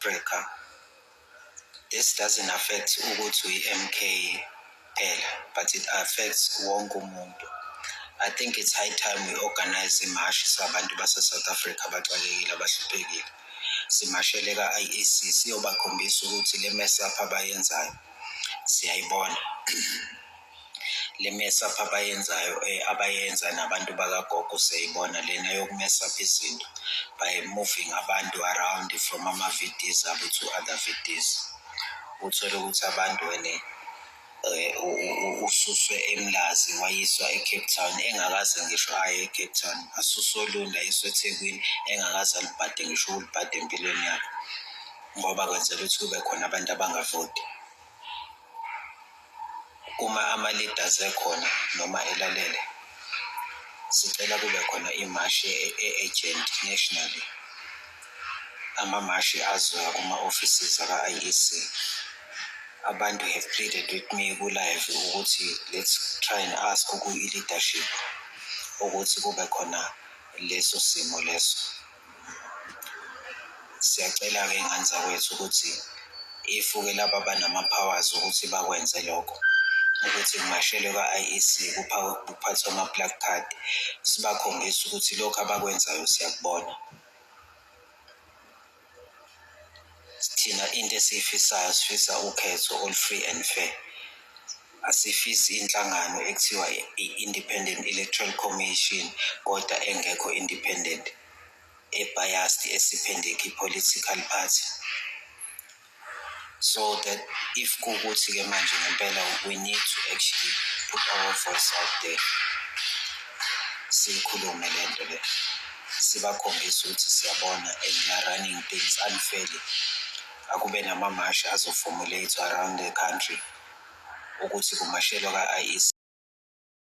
Africa. This doesn't affect ukuthi uyi-MK kuphela, but it affects wonke umuntu. I think it's high time we organize imashi sabantu base-South Africa abaxakekile abahluphekile. Simashele ka-IEC siyobakhombisa ukuthi le mess up abayenzayo siyayibona. le mesapha abayenzayo eh, abayenza nabantu bakagogo seyibona lena yokumesapha izinto by moving abantu around from ama-vds abo to other vds uthole ukuthi abantu wene um ususwe emlazi wayiswa ecape town engakaze ngisho aye ecape town asuswe olunda ayiswa ethekwini engakaze alibhade ngisho ukulibhade empilweni yakhe ngoba kwenzela ukuthi kube khona abantu abangavoti uma ama-leaders ekhona noma elalele sicela kube khona imashi e-agent nationally amamashi azoya kuma-offices aka-iec abantu have pleaded with me kulive ukuthi let's try and ask kuyi-leadership ukuthi kube khona leso simo leso siyacela-ke iy'ngane zakwethu ukuthi if-ke laba abanama-powers ukuthi bakwenze lokho ukuthi kungashelwe kwa-IEC kuphathwe ama-plug card sibakhombise ukuthi lokhu abakwenzayo siyakubona thina into esiyifisayo sifisa ukhetho olu-free and fair asifisi inhlangano ekuthiwa i-independent electoral commission kodwa engekho independent ebiased esiphendeki political party so that if kuwukuthi-ke manje ngempela we need to actually put our voice out there siyikhulume le nto le sibakhombise ukuthi siyabona and we are running things unfairly Akube namamashi azoformulate-wa around the country ukuthi kumashelwa ka-IEC.